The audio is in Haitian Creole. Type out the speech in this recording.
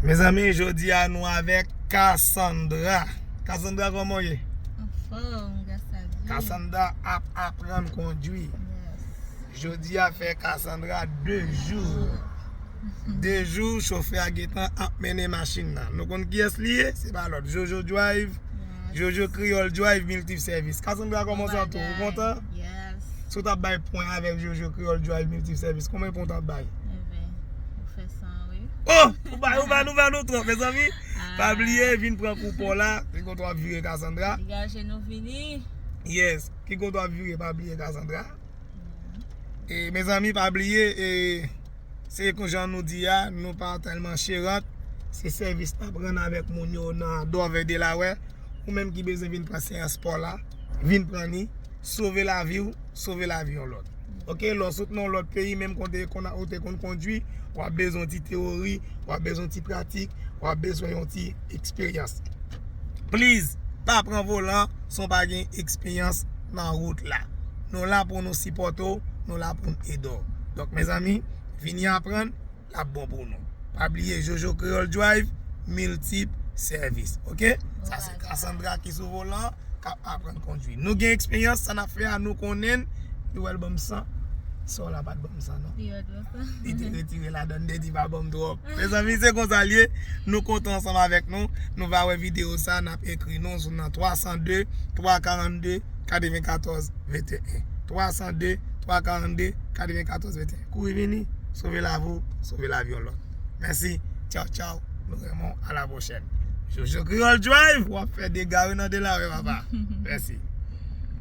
Mezanmi jodi a nou avek Cassandra Cassandra koman ou ye? Anfom gras a Dye Cassandra ap aprann kondwi Jodi a fè Cassandra 2 jou 2 jou chofè a gentan ap mennen machin nan Nou konn kiyès li ye? Se pa lòt Jojo Drive Jojo Kreyòl Drive Multi Service. Cassandra kòman sa tou? Ou kontan? Yes. Si w ta bay pwen avèk Jojo Kreyòl Drive Multi Service, konbyen pwen w ta bay? Even, ou fè san wi. Oh! Ou ba, ou ba nou, ba nou twòp, mezanmi. Pa bliye, vin pran koupon w la. Ki kote w ap vire Cassandra? Degaje nou vini. Yes. Ki kote w ap vire pa bliye Cassandra. E, mezanmi pa bliye e. Se kon jan nou di a, nou pa tèlman cherant, se sèvis n ap rann avèk moun yo nan Dòvè Delaware. Ou menm ki bezwen vin pran seyans spò la, vin pran ni, sove lavi w, sove lavi yon lòt. Ok, lè w sot nan yon lòt peyi, menm kote ou te konn kondwi, w ap bezwen yon ti teyori, w ap bezwen yon ti pratik, w ap bezwen yon ti eksperyans. Please, pa pran volan san w pa gen eksperyans. nan rout la. Nou la pou nou sipòte w, nou la pou n ede w. Donk mezanmi, vini aprann, l ap bon pou nou. Pa bliye Jojo Kreyòl Drive, miltip sèvis. Oke? Sa se Cassandra ki sou volan, k ap aprann kondwi. Nou gen eksperyans, sa n ap fè a nou konnen l. Li wè l ban m san. Sè w la pa t ban m san non. Li te retire ladan Dedy pa banm trop. Mezanmi se konsa liye. Nou kontan ansanm avèk nou. Nou va wè video sa nap ekri nou sou nan 302 342 94 21 302 342 94 21 Kouri vini sove lavi w sove lavi yon lòt Mèsi Tchaw tchaw Nou renmen w a la pwochèn Jojo Creole Drive wap fè dega wi nan Delaware papa Mèsi.